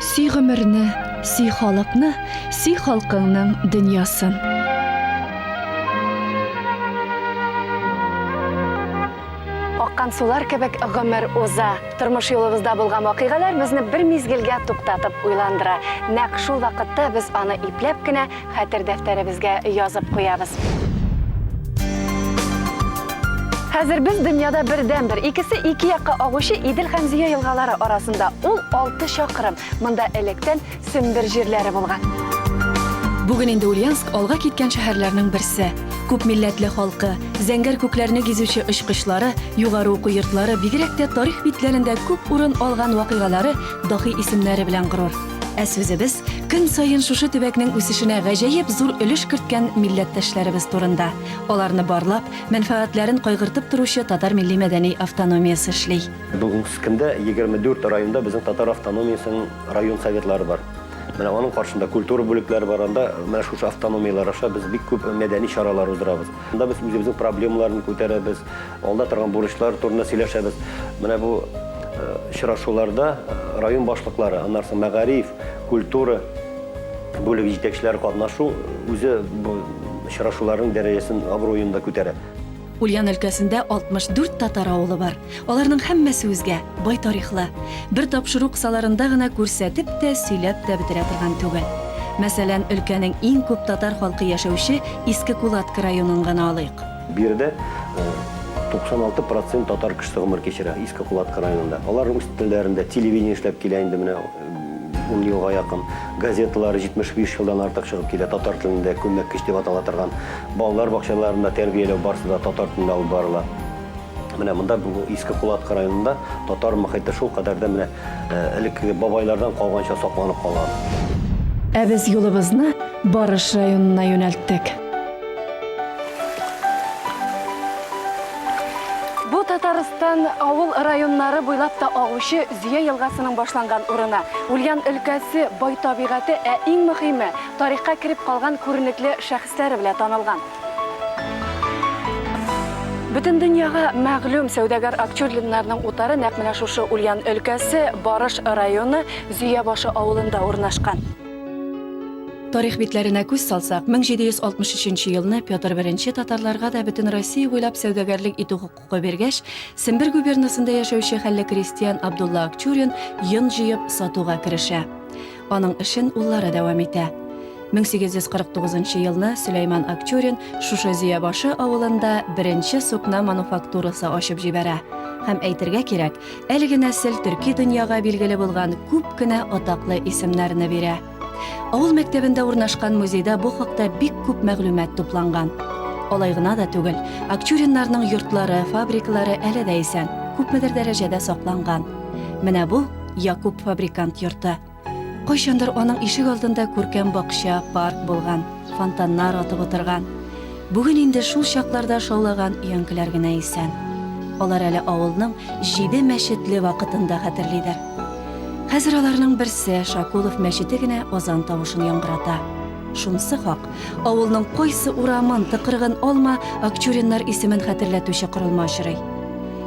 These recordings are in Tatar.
Си гомерне, си халыкны, си халкыңның дөньясын. Аккан сулар кебек гомер уза. Тормыш юлыбызда булган вакыйгалар безне бер мизгелгә туктатып уйландыра. Нәкъ шул вакытта без аны ипләп кенә Хәтер дәфтәребезгә язып куябыз. Хәзер без дөньяда бердән-бер, икесе ике якка агучы Идел һәм Зөя елгалары арасында. Ул 6 чакрым. Монда электән Сембер җирләре булган. Бүген инде Ульяновск алга киткән шәһәрләрнең берсе. Күп милләтле халкы, зәңгәр күкләрне гизүче очкычлары, югары уку йортлары, бигрәк тә тарих битләрендә күп урын алган вакыйгалары, дахи исемнәре белән горур. Ә сүзебез көн саен шушы төбәкнең үсешенә гаҗәеп зур өлеш керткән милләттәшләребез турында. Аларны барлап, мәнфәгатьләрен кайгыртып торучы татар милли-мәдәни автономиясе эшли. Бүгенге көндә 24 районда безнең татар автономиясенең район советлары бар. Менә аның каршында культура бүлекләре бар, анда менә шушы автономияләр аша без бик күп мәдәни чаралар уздырабыз. Анда без үзебезнең проблемаларны күтәрәбез. Алда торган бурычлар турында сөйләшәбез. Менә бу очрашуларда район башлыклары, аннан соң мәгариф, культура бүлеге җитәкчеләре катнашу үзе бу очрашуларның дәрәҗәсен, абруен да күтәрә. Ульян өлкәсендә 64 татар авылы бар. Аларның һәммәсе үзгә, бай тарихлы. Бер тапшыру кысаларында гына күрсәтеп тә, сөйләп тә бетерә торган түгел. Мәсәлән, өлкәнең иң күп татар халкы яшәүче Иске Кулатка районын гына алыйк. Биредә 96 процент татар кешесе гомер кичерә, Иске Кулаткы районында. Алар рус телләрендә телевидение эшләп килә инде менә ун елга якын. Газеталары 75 елдан артык чыгып килә татар телендә, күлмәккеч дип атала торган. Балалар бакчаларында тәрбияләү барысы да татар телендә алып барыла. Менә монда Иске Кулаткы районында татар мохите шул кадәр дә менә элеккеге бабайлардан калганча сакланып калган. Ә без юлыбызны Барыш районына юнәлттек. Татарстан авыл районнары буйлап та агучы Зөя елгасының башланган урыны. Ульян өлкәсе бай табигате, ә иң мөһиме, тарихка кереп калган күренекле шәхесләре белән танылган. Бүтін дүнияға мәгълүм сәүдәгәр Акчурлиннарның утары нәкъ менә шушы Ульян өлкәсе Барыш районы Зөябашы авылында урнашкан. Тарих битләренә күз салсак, 1763 елны Петр I татарларга да бөтен Россия буйлап сәүдәгәрлек итү хокукы биргәч, Сембер губернасында яшәүче хәлле крестьян Абдулла Акчурин йон җыеп, сатуга керешә. Аның эшен уллары дәвам итә. 1849 елны Сөләйман Акчурин шушы Зөябашы авылында беренче сукна мануфактурасы ачып җибәрә. Һәм әйтергә кирәк, Әлеге нәсел төрки дөньяга билгеле булган күп кенә атаклы исемнәрне бирә. Авыл мәктәбендә урнашкан музейда бу хакта бик күп мәгълүмат тупланган. Алай гына да түгел, Акчуриннарның йортлары, фабрикалары әле дә исән, күпмедер дәрәҗәдә сакланган. Менә бу Якуб фабрикант йорты. Кайчандыр аның ишек алдында күркәм бакча, парк булган, фонтаннар атып утырган. Бүген инде шул чакларда шаулаган өянкеләр генә исән. Алар әле авылның җиде мәчетле вакытын да хәтерлидер. Хәзер аларның берсе Шакулов мәчете генә азан тавышын яңгырата. Шунысы хак, авылның кайсы урамын, тыкрыгын алма, Акчуриннар исемен хәтерләтүче корылма очрый.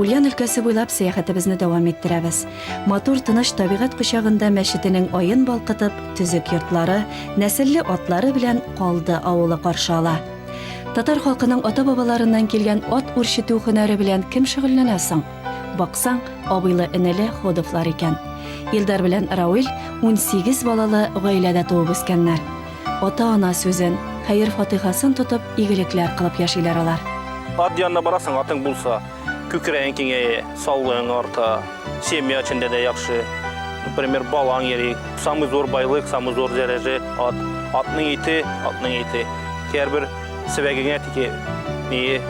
Ульян өлкәсе буйлап сәяхәтебезне дәвам иттерәбез. Матур тыныч табигать кочагында мәчетенең аен балкытып, төзек йортлары, нәселле атлары белән Калды авылы каршы ала. Татар халкының ата-бабаларыннан килгән ат үрчетү һөнәре белән кем шөгыльләнә соң? Баксаң, абыйлы-энеле Ходовлар икән. Илдар белән Рауил 18 балалы гаиләдә туып үскәннәр. Ата-ана сүзен, хәер-фатыйхасын тотып, игелекләр кылып яшиләр алар. Ат янына барасың, атың булса. Күкрәең киңәя, саулыгың арта, семья эчендә дә яхшы. Например, балаң йөри. Самый зур байлык, самый зур дәрәҗә ат. Атның ите, атның ите. Һәрбер сибәгеңә тике ние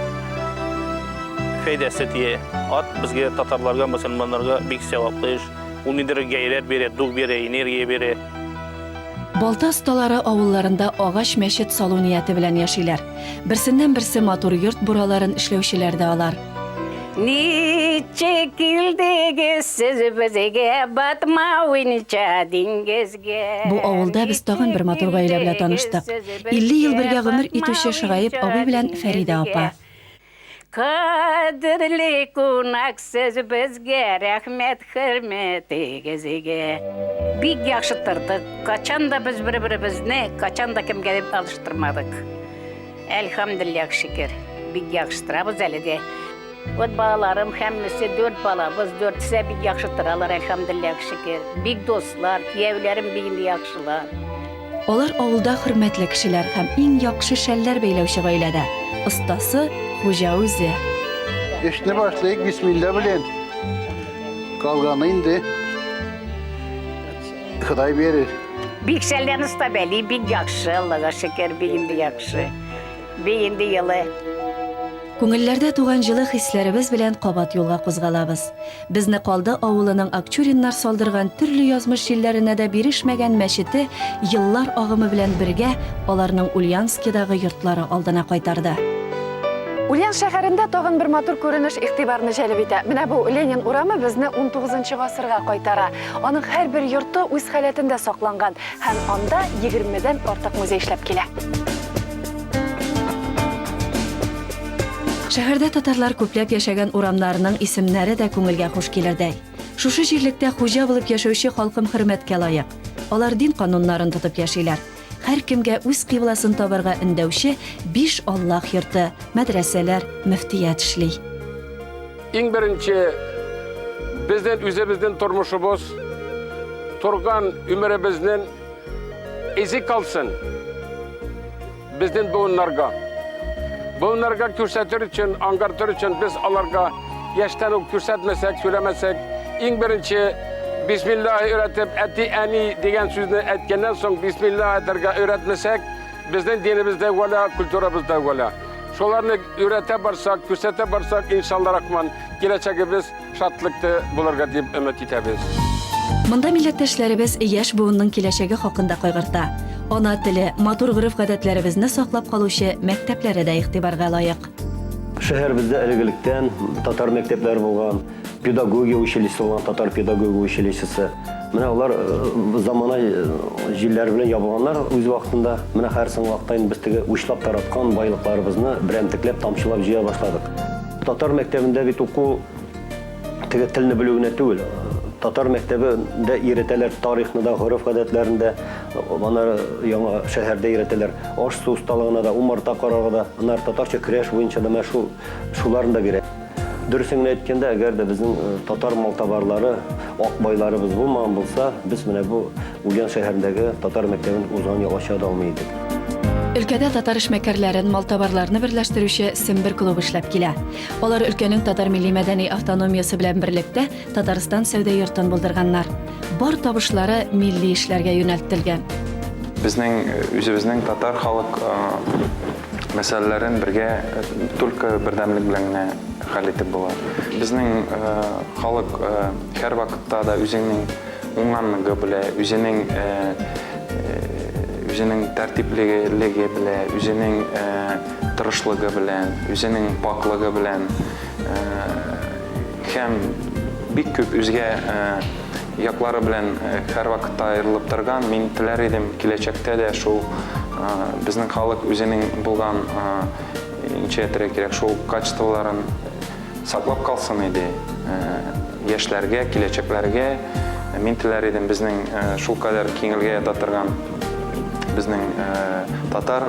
фәйдәсе тие. Ат безгә татарларга, мусульманнарга бик сәваплы эш. Ул ниндидер гайрәт бирә, дух бирә, энергия бирә. Балта осталары авылларында агач мәчет салу нияте белән яшиләр. Берсеннән-берсе матур йорт бураларын эшләүчеләр дә алар. Ничек килдегез сез безгә батма уйнича диңгезгә? Бу авылда без тагын бер матур гаилә белән таныштык. 50 ел бергә гомер итүче Шыгаеп абый белән Фәридә апа. Кадерле кунак сез безгә, рәхмәт хөрмәтегезгә. Бик яхшы тордык, качан да без бер беребезне качан да кемгә дип алыштырмадык. Әлхәмдүлилләһ шөкер, бик яхшы торабыз әле дә. Вот балаларым һәммәсе дүрт балабыз, дүртесе дә бик яхшы торалар, әлхәмдүлилләһ шөкер. Бик дуслар, кияүләрем бик яхшылар. Алар авылда хөрмәтле кешеләр һәм иң яхшы шәлләр бәйләүче гаиләдә. Остасы хуҗа үзе. Эшне башлыйк бисмилла белән. Калганы инде Ходай бирер. Бик шәлләрне оста бәли, бик яхшы, Аллага шөкер, бик инде яхшы. Бик инде елы. Күңелләрдә туган җылы хисләребез белән кабат юлга кузгалабыз. Безне Калды авылының Акчуриннар салдырган төрле язмыш җилләренә дә бирешмәгән мәчете еллар агымы белән бергә аларның Ульянскидагы йортлары алдына кайтарды. Ульян шәһәрендә тагын бер матур күренеш игътибарны җәлеп итә. Менә бу Ленин урамы безне унтугызынчы гасырга кайтара. Аның һәрбер йорты үз халәтендә сакланган. Һәм анда егермедән артык музей эшләп килә. Шәһәрдә татарлар күпләп яшәгән урамнарының исемнәре дә күңелгә хуш килердәй. Шушы җирлектә хуҗа булып яшәүче халкым хөрмәткә лаек. Алар дин кануннарын тотып яшиләр. Һәркемгә үз кыйбласын табарга өндәүче биш Аллаһ йорты, мәдрәсәләр, мөфтият эшли. Иң беренче безнен үзебезнен тормышыбыз, торган өмеребезнен изи калсын безнен буыннарга. Буыннарга күрсәтер өчен, аңгартыр өчен без аларга яшьтән үк күрсәтмәсәк, сөйләмәсәк, иң беренче бисмилла өйрәтеп, әти, әни дигән сүзне әйткәннән соң бисмилла әйтергә өйрәтмәсәк, Безнең динебез дә үгәлә, культурабыз да үгәлә. Шуларны өйрәтә барсак, күрсәтә барсак, иншалла рахман, киләчәгебез шатлыклы булырга дип өмет итәбез. Монда милләттәшләребез яшь буынның киләчәге хакында кайгырта. Ана теле, матур гореф-гадәтләребезне саклап калучы мәктәпләре дә игътибарга лаек. Шәһәребездә элек-электән татар мәктәпләре булган. Педагогия училищесы булган татар педагогия училищесы. Менә алар э, замана э, җилләр белән ябылганнар үз вакытында. Менә хәзер соң вакытта без теге учлап тараткан байлыкларыбызны берәмтекләп тамчылап җыя башладык. Татар мәктәбендә бит уку теге телне белү генә түгел. Татар мәктәбендә иретәләр тарихны да, гореф гадәтләрен дә, ана яңа шәһәрдә иретәләр. Аш-су осталыгына да, умарта карарга да, анар татарча креш буенча да мәшһүр шуларны да бирә. Дөресен генә әйткәндә, әгәр дә безнең татар малтабарлары, ак байларыбыз булмаган булса, без менә бу Ульян шәһәрендәге татар мәктәбен узган ел ача да алмый идек. Өлкәдә татар эшмәкәрләрен, малтабарларны берләштерүче Сембер клубы эшләп килә. Алар өлкәнең татар милли-мәдәни автономиясе белән берлектә Татарстан сәүдә йортын булдырганнар. Бар табышлары милли эшләргә юнәлтелгән. Безнең үзебезнең татар халык мәсьәләләрен бергә только бердәмлек белән генә хәл итеп була. Безнең халык һәр вакытта да үзенең уңганлыгы белә, үзенең үзенең тәртиплелеге белә, үзенең тырышлыгы белән, үзенең пакьлыгы белән һәм бик күп үзгә яклары белән һәрвакытта аерылып торган. Мин теләр идем, киләчәктә дә шул безнең халык үзенең булган ничә әйтергә кирәк, шул качестволарын саклап калсын иде. Яшьләргә, киләчәкләргә мин теләр идем безнең шул кадәр киңелгә ята торган безнең татар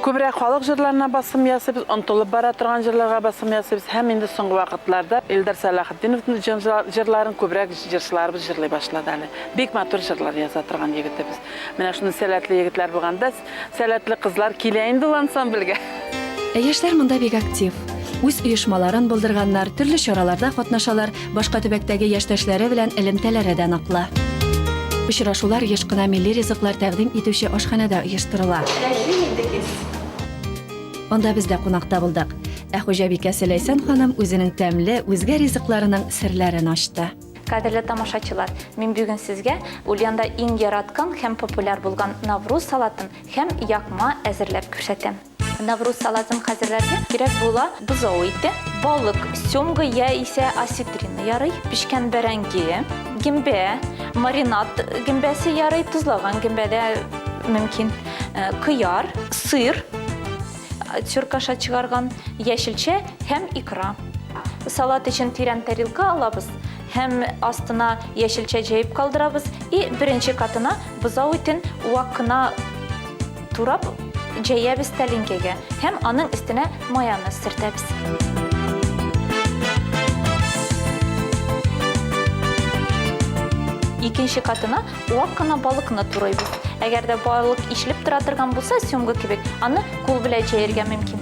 Күбрәк халык җырларына басым ясыйбыз, онытылып бара торган җырларга басым ясыйбыз һәм инде соңгы вакытларда Илдар Сәлахетдиновның җырларын күбрәк җырчыларыбыз җырлый башлады әле. Бик матур җырлар яза торган егетебез. Менә шундый сәләтле егетләр булганда, сәләтле кызлар килә инде ул ансамбльгә. Яшьләр монда бик актив. Үз оешмаларын булдырганнар, төрле чараларда катнашалар, башка төбәктәге яшьтәшләре белән элемтәләре дә ныклы. Очрашулар еш кына милли ризыклар тәкъдим итүче ашханәдә оештырыла. Анда без дә кунакта булдык. Ә хуҗабикәсе Ләйсән ханым үзенең тәмле, үзгә ризыкларының серләрен ачты. Кадерле тамашачылар, мин бүген сезгә Ульянда иң яраткан һәм популяр булган Навруз салатын һәм якма әзерләп күрсәтәм. Навруз салатын хәзерләргә кирәк була бозау ите, балык, сёмга я исә осетрина ярый, пешкән бәрәңге, гөмбә, маринад гөмбәсе ярый, тозлаган гөмбә дә мөмкин, кыяр, сыр, тюркаша чыгарган, яшелчә һәм икра. Салат өчен тирән тарелка алабыз һәм астына яшелчә җәеп калдырабыз и беренче катына бозау итен вак кына Турап җәябез тәлинкәгә һәм аның өстенә майонез сөртәбез. Икенче катына вак кына балыкны турыйбыз. Әгәр дә балык ишелеп тора торган булса, сёмга кебек, аны кул белән җәяргә мөмкин.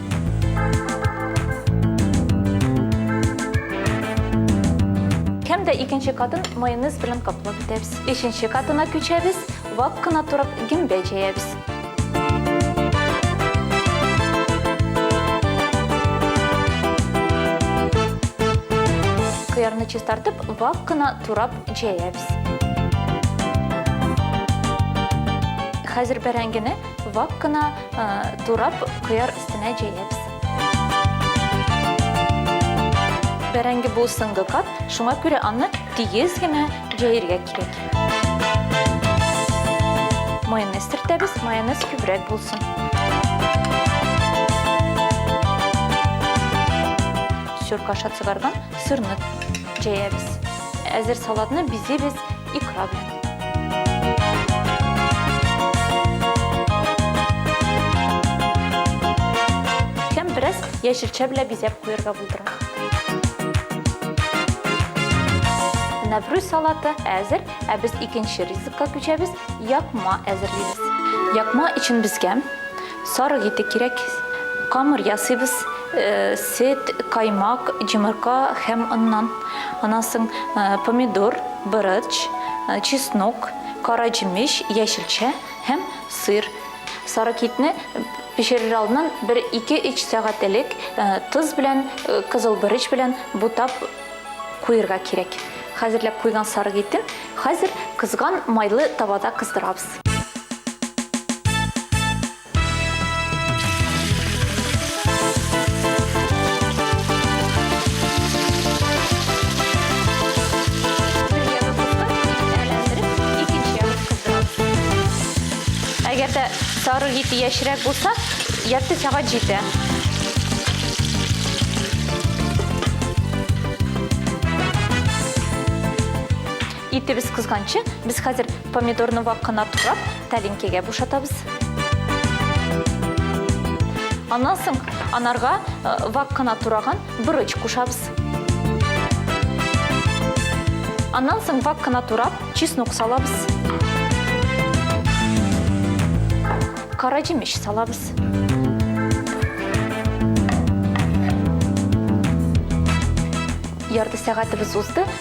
Һәм дә икенче катын майонез белән каплап бетәбез. Өченче катына күчәбез. Вак кына торып гөмбә җәябез. Кыярны чистартып, вак кына турап җәябез. Хәзер бәрәңгене вак кына э, турап кыяр өстенә җәябез. Бәрәңге бу соңгы кат, шуңа күрә аны тигез генә җәяргә кирәк. Майонез төртәбез, майонез күбрәк булсын. Сөрк аша сырны сырны җәябез. Әзер салатны бизибез икра белән. Һәм бераз яшелчә белән бизәп куярга булдырам. Нәврүз салаты әзер, ә без икенче ризыкка күчәбез, якма әзерлибез. Якма өчен безгә сарык ите кирәк. Камыр ясыйбыз, э, сөт, каймак, җомырка һәм оннан. Аннан соң э, помидор, борыч, э, чеснок, кара җимеш, яшелчә һәм сыр. Сары китне пешерер алдыннан бер ике-өч сәгать элек э, тоз белән, э, кызыл береч белән бутап куерга кирәк. Хәзерләп куйган сары китен хәзер кызган майлы табада кыздырабыз. Әгәр дә сары ете яшьрәк булса, ярты сәгать җитә. Итебез кызганчы, без хәзер помидорны вак кына турап, тәлинкәгә бушатабыз. Аннан соң анарга э, вак кына тураган Борыч кушабыз. Аннан соң вак кына турап, чеснок салабыз. Кара җимеш салабыз. Ярты сәгатебез узды,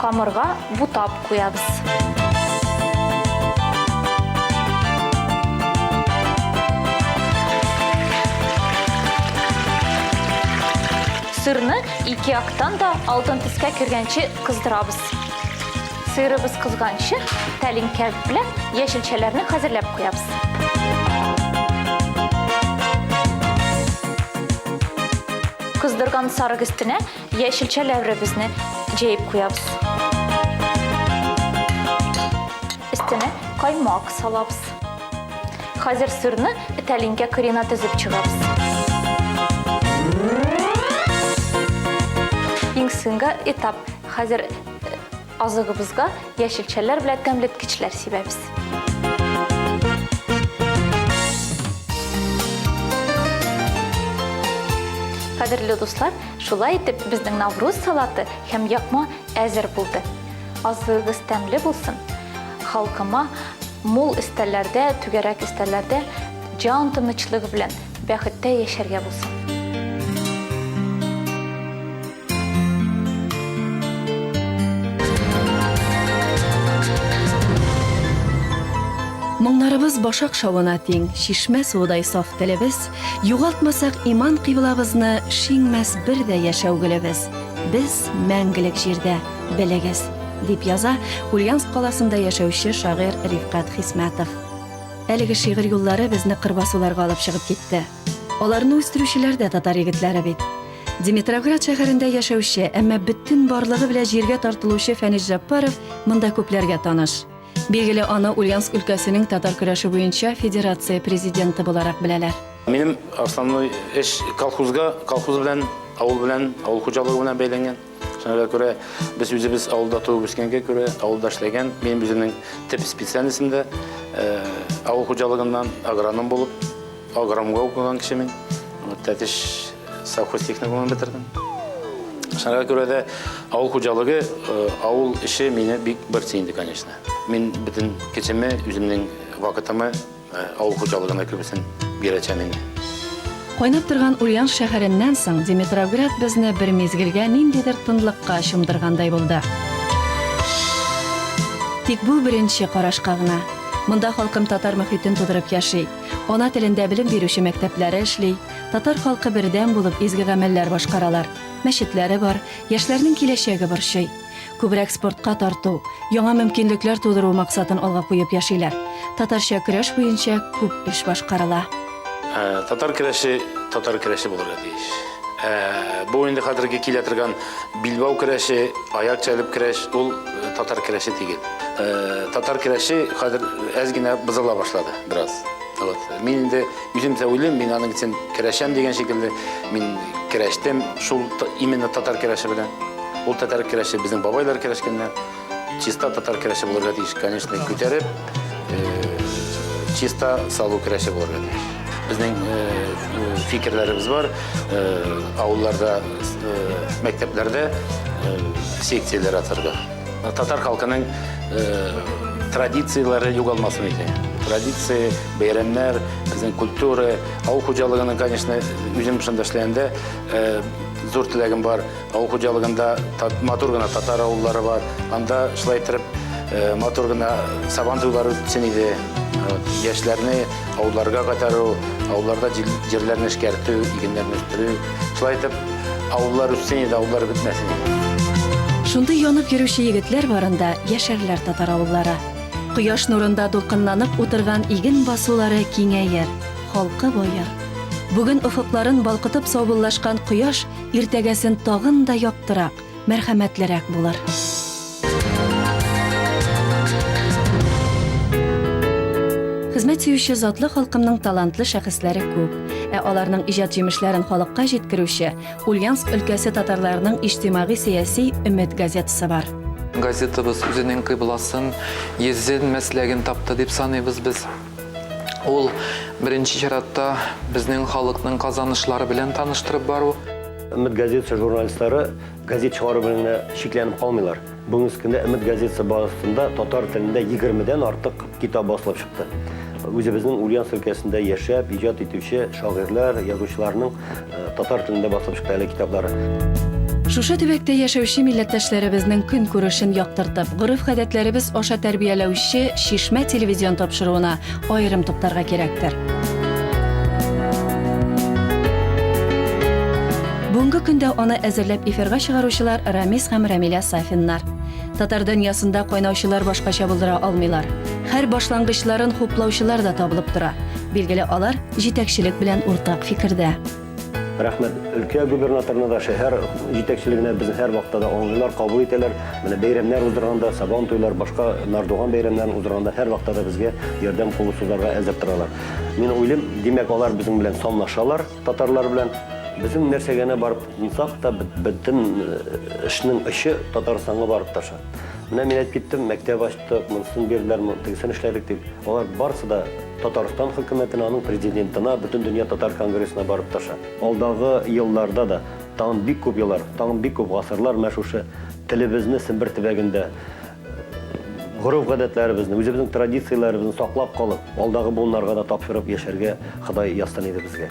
Камырга бутап куябыз. Сырны ике яктан да алтын төскә кергәнче кыздырабыз. Сырыбыз кызганчы, тәлинкә белән яшелчәләрне хәзерләп куябыз. Кыздырган сарык өстенә Яшелчә ләвребезне җәеп куябыз. Өстенә каймак салабыз. Хәзер сырны тәлинкә кырына тезеп чыгабыз. Иң соңгы этап. Хәзер Азыгыбызга яшелчәләр белән тәмлеткечләр сибәбез. Кадерле дуслар, шулай итеп безнең Навруз салаты һәм якма әзер булды. Азыгыз тәмле булсын. Халкыма мул истәләрдә, түгәрәк истәләрдә җан тынычлыгы белән бәхеттә яшәргә булсын. Моңнарыбыз башак шавына тиң, шишмә суыдай саф телебез, югалтмасак иман кыйблабызны, шиңмәс бер дә яшәү гөлебез. Без мәңгелек җирдә, белегез, дип яза Ульяновск каласында яшәүче шагыйрь Рифкат Хисмәтов. Әлеге шигырь юллары безне кырбасуларга алып чыгып китте. Аларны үстерүчеләр дә татар егетләре бит. Димитровград шәһәрендә яшәүче, әмма бөтен барлыгы белән җиргә тартылучы Фәнис Җаппаров монда күпләргә таныш. Билгеле, аны Ульяновск өлкәсенең татар көрәше буенча федерация президенты буларак беләләр. Минем основной эш колхозга, колхоз белән, авыл белән, авыл хуҗалыгы белән бәйләнгән. Шуңа күрә без үзебез авылда туып үскәнгә күрә, авылда эшләгән, минем үземнең төп специальностем дә авыл хуҗалыгыннан агроном булып, агромга укыган кеше мин. Тәтеш совхоз техникумын бетердем. Шуңа күрә дә авыл хуҗалыгы, авыл эше мине бик борчый инде, конечно. Мин бөтен кечеме, үземнең вакытымы Авыл хуҗалыгына күбесен бирәчәм инде. Кайнап торган Ульяновск шәһәреннән соң Димитровград безне бер мизгелгә ниндидер тынлыкка чумдыргандай булды. Тик бу беренче карашка гына. Монда халкым татар мөхитен тудырып яши. Ана телендә белем бирүче мәктәпләре эшли. Татар халкы бердәм булып изге гамәлләр башкаралар. Мәчетләре бар. Яшьләрнең киләчәге борчый. Күбрәк спортка тарту, яңа мөмкинлекләр тудыру максатын алга куеп яшиләр. Татарча көрәш буенча күп эш башкарыла. Татар көрәше татар көрәше булырга тиеш. Бу инде хәзерге килә торган билбау көрәше, аяк чәлеп көрәш, ул татар көрәше тигел. Татар көрәше хәзер әз генә бозыла башлады бераз. Вот. Мин инде Үземсә уйлыйм, мин аның өчен көрәшәм дигән шикелле, мин көрәштем шул именно татар көрәше белән. Ул татар көрәше безнең бабайлар көрәшкәннәр. Чиста татар көрәше булырга тиеш, конечно, күтәреп, чиста салу көрәше булырга тиеш. Безнең фикерләребез бар, авылларда, мәктәпләрдә секцияләр ачарга. Татар халкының традицияләре югалмасын иде. Традиция, бәйрәмнәр, безнең культура, авыл хуҗалыгының, конечно, үзем шунда эшләгәндә зур теләгем бар. Авыл хуҗалыгында матур гына татар авыллары бар. Анда шулай итеп матур гына сабан туйлары үтсен иде. Яшьләрне Ауларга кайтару, ауларда җирләрне эшкәртү, игеннәрне үстерү. Шулай итеп, аулар үссен иде, аулар бетмәсен иде. Шундый янып йөрүче егетләр барында яшәрләр татар авыллары. Кояш нурында дулкынланып утырган иген басулары киңәер, халкы баер. Бүген офыкларын балкытып саубуллашкан кояш иртәгәсен тагын да яктырак, мәрхәмәтлерәк булыр. Хезмәт сөюче затлы халкымның талантлы шәхесләре күп. Ә аларның иҗат җимешләрен халыкка җиткерүче Ульяновск өлкәсе татарларының иҗтимагый-сәяси Өмет газетасы бар. Газетабыз үзенең кыйбласын, йөзен, мәсләген тапты дип саныйбыз без. Ул, беренче чиратта, безнең халыкның казанышлары белән таныштырып бару. Өмет газетасы журналистлары газет чыгару белән генә чикләнеп калмыйлар. Бүгенге көндә Өмет газетасы базасында татар телендә 20-дән артык китап басылып чыкты. Үзебезнең Ульяновск өлкәсендә яшәп, иҗат итүче шагыйрьләр, язучыларның э, татар телендә басылып чыкты әле китаплары. Шушы төбәктә яшәүче милләттәшләребезнең көн күрешен яктыртып, гореф-гадәтләребез аша тәрбияләүче Шишмә телевизион тапшыруына Аерым туктарга кирәктер. Бүгенге көндә аны әзерләп эфирга чыгаручылар Рамис һәм Рамиля Сафиннар. Татар дөньясында кайнаучылар башкача булдыра алмыйлар. Һәр башлангычларын хуплаучылар да табылып тора. Билгеле, алар җитәкчелек белән уртак фикердә. Рәхмәт өлкә губернаторына да, шәһәр җитәкчелегенә безне һәр вакытта да аңлыйлар, кабул итәләр. Менә бәйрәмнәр уздырганда, Сабан туйлар, башка Нардуган бәйрәмнәрен уздырганда һәр вакытта да безгә ярдәм кулы сузарга әзер торалар. Мин уйлыйм, димәк, алар безнең белән санлашалар, татарлар белән. Безнең нәрсә генә барып тынсак та, бөтен эшнең очы Татарстанга барып таша. Менә мин әйтеп киттем, мәктәп ач. Тык, монысын бирделәр, тегесен эшләдек дип. Алар барысы да Татарстан хөкүмәтенә, аның президентына, Бөтендөнья татар конгрессына барып тырыша. Алдагы елларда да, тагын бик күп еллар, тагын бик күп гасырлар менә шушы телебезне Сембер төбәгендә гореф-гадәтләребезне, үзебезнең традицияләребезне саклап калып, алдагы буыннарга да тапшырып яшәргә Ходай язсын иде безгә.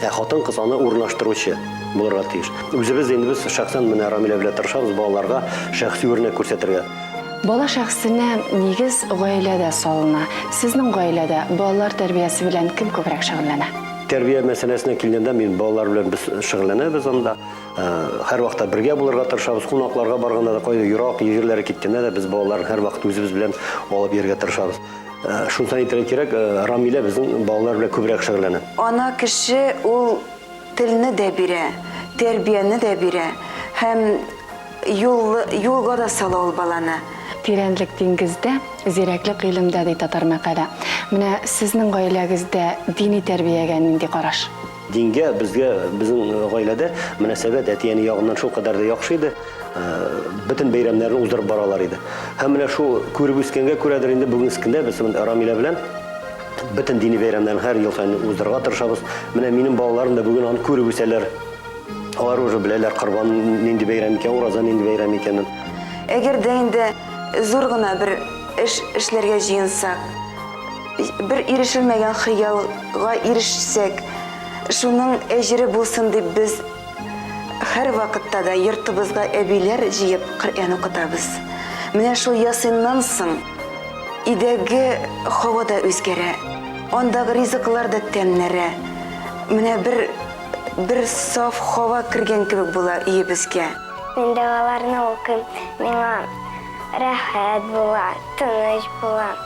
Ә хатын-кыз аны урнаштыручы булырга тиеш. Үзебез инде без шәхсән менә Рамилә белән тырышабыз балаларга шәхси үрнәк күрсәтергә. Бала шәхсенә нигез гаиләдә салына. Сезнең гаиләдә балалар тәрбиясе белән кем күбрәк шөгыльләнә? Тәрбия мәсьәләсенә килгәндә, мин балалар белән без шөгыльләнәбез анда. Э, һәрвакытта бергә булырга тырышабыз. Кунакларга барганда да, кайда ерак җирләре киткәндә дә без балаларны һәрвакыт үзебез белән алып йөрергә тырышабыз. Шунтан әйтергә кирәк, Рамилә безнең балалар белән күбрәк шөгыльләнә. Ана кеше ул телне дә бирә, тәрбияне дә бирә һәм юлга да сала ул баланы. Тирәнлек диңгездә, зирәклек гыйлемдә, ди татар мәкале. Менә сезнең гаиләгездә дини тәрбиягә нинди караш? Дингә безгә, безнең гаиләдә мөнәсәбәт әти-әни ягыннан шул кадәр дә яхшы иде. Бөтен бәйрәмнәрне уздырып баралар иде. Һәм менә шул күреп үскәнгә күрәдер инде бүгенге көндә без Рамилә белән бөтен дини бәйрәмнәрне һәр ел саен уздырырга тырышабыз. Менә минем балаларым да бүген аны күреп үсәләр. Алар уже беләләр Корбан нинди бәйрәм икән, Ураза нинди бәйрәм икәнен. Әгәр дә инде зур гына бер эш эшләргә җыенсак, Бер ирешелмәгән хыялга ирешсәк, шуның әҗере булсын дип без һәр вакытта да йортыбызга әбиләр җыеп Коръән укытабыз. Менә шул Ясиннан соң идәге һава да үзгәрә, андагы ризыклар да тәмнәрә. Менә бер бер саф һава кергән кебек була өебезгә. Мин догаларны укыйм, миңа рәхәт була, тыныч була.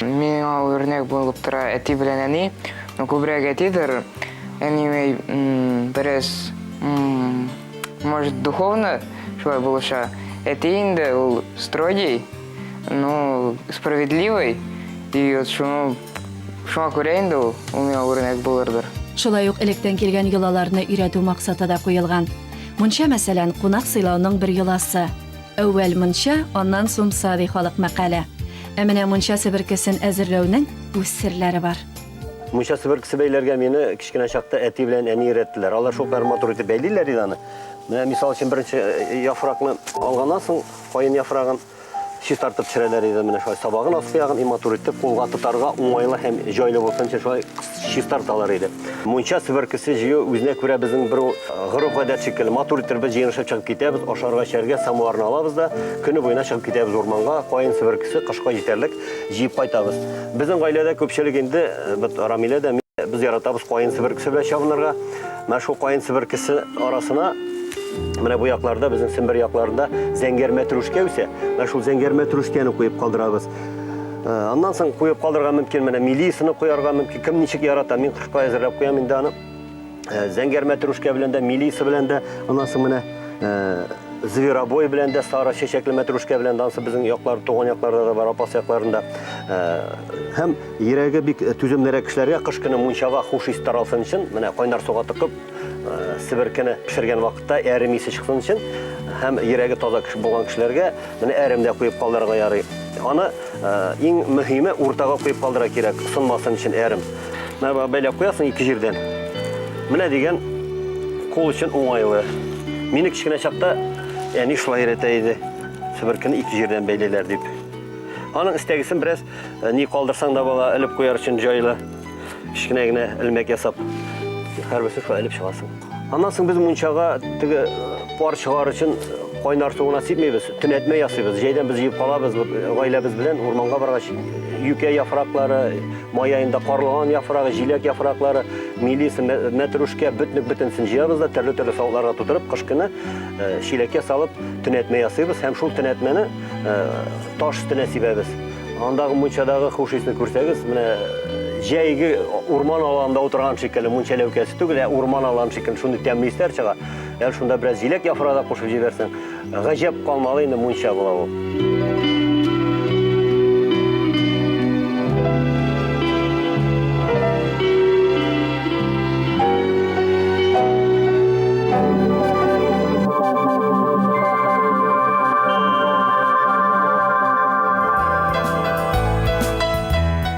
Миңа ул үрнәк булып тора әти белән әни. Ну, күбрәк әтидер. Әни бераз, может, духовно шулай булыша. Әти инде ул строгий, ну, справедливый. И вот шуны шуңа күрә инде ул ул миңа үрнәк булырдыр. Шулай ук электән килгән йолаларны өйрәтү максаты да куелган. Мунча, мәсәлән, кунак сыйлауның бер йоласы. Әүвәл мунча, аннан сумса, ди халык мәкале. Ә менә мунча себеркесен әзерләүнең үз серләре бар. Мунча себеркесе бәйләргә мине кечкенә чакта әти белән әни өйрәттеләр. Алар шулкадәр матур итеп бәйлиләр иде аны. Менә мисал өчен беренче э, яфракны алганнан соң, каен яфрагын чистартып төшерәләр иде менә шулай. Сабагын аскы ягын и матур итеп кулга тотарга уңайлы һәм җайлы булсын өчен шулай чистарталар иде. Мунча себеркесе җыю үзенә күрә безнең бер гореф-гадәт шикелле. Матур итеп без җыенышып чыгып китәбез, ашарга-эчәргә самоварны алабыз да, көне буена чыгып китәбез урманга, каен себеркесе кышка җитәрлек җыеп кайтабыз. Безнең гаиләдә күпчелек инде, бит Рамилә дә, мин дә, без яратабыз каен себеркесе белән чабынырга. Менә шул каен себеркесе арасына, менә бу якларда, безнең Сембер якларында зәңгәр мәтрүшкә үсә, менә шул зәңгәр мәтрүшкәне куеп калдырабыз. Э, аннан соң куеп калдырырга мөмкин, менә милисаны куярга мөмкин. Кем ничек ярата, мин кыркай әзерләп куям инде аны. Э, зәңгәр мәтрүшкә белән дә, милиса белән дә, аннан соң менә э, зверобой белән дә, сары чәчәкле мәтрүшкә белән дә, ансы безнең яклар, туган якларда да бар, апас якларында. Һәм йөрәге бик түземлерәк кешеләргә кыш көне мунчага хуш ис таралсын өчен, менә кайнар суга тыкып, себеркене пешергән вакытта әрем исе чыксын өчен, һәм йөрәге таза кеше булган кешеләргә Менә әрем дә куеп калдырырга ярый. Аны э, иң мөһиме уртага куеп калдыра кирәк, сынмасын өчен әрем. Менә бәйләп куясың ике җирдән. Менә дигән кул өчен уңайлы. Мине кечкенә чакта әни шулай өйрәтә иде. Себеркене ике җирдән бәйлиләр дип. Аның истәгесен бераз Э, ни калдырсаң да бала элеп куяр өчен җайлы кечкенә генә элмәк ясап һәрберсен шулай элеп чыгасың аннан соң без мунчага теге э, пар чыгар өчен э, кайнар суына сипмибез төнәтмә ясыйбыз җәйдән без җыеп калабыз гаиләбез белән урманга баргач юкә яфраклары май аенда карлыган яфрагы җиләк яфраклары милиса мәтрүшкә бөтнек бөтенсен җыябыз да төрле төрле савытларга тутырып кыш көне чиләккә салып төнәтмә ясыйбыз һәм шул төнәтмәне Таш өстенә сибәбез. Андагы мунчадагы хуш исне күрсәгез, менә җәйге урман аланында утырган шикелле, мунча ләүкәсе түгел, ә урман аланы шикелле шундый тәмле исләр чыга. Ягъни шунда бераз җиләк яфрагы да кушып җибәрсәң, гаҗәп калмалы инде мунча була ул.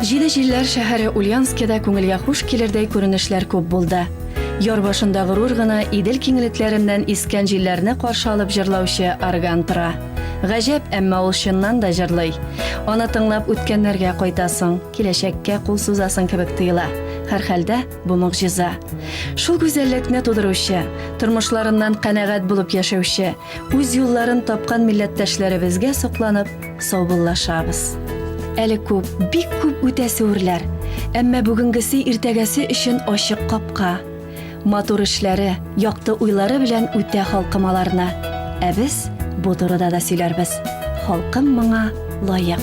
Җиде җилләр шәһәре Ульянскида күңелгә хуш килердәй күренешләр күп булды. Яр башында горур гына Идел киңлекләреннән искән җилләрне каршы алып җырлаучы орган тора. Гаҗәп, әмма ул чыннан да җырлый. Аны тыңлап үткәннәргә кайтасың. Киләчәккә кул сузасың кебек тоела. Һәрхәлдә, бу могҗиза. Шул гүзәллекне тудыручы, тормышларыннан канәгать булып яшәүче, үз юлларын тапкан милләттәшләребезгә сокланып, саубуллашабыз. Әле күп, бик күп үтәсе үрләр, әмма бүгенгесе иртәгәсе өчен ачык капка. Матур эшләре, якты уйлары белән үтә халкым аларны. Ә без бу турыда да сөйләрбез. Халкым моңа лаек.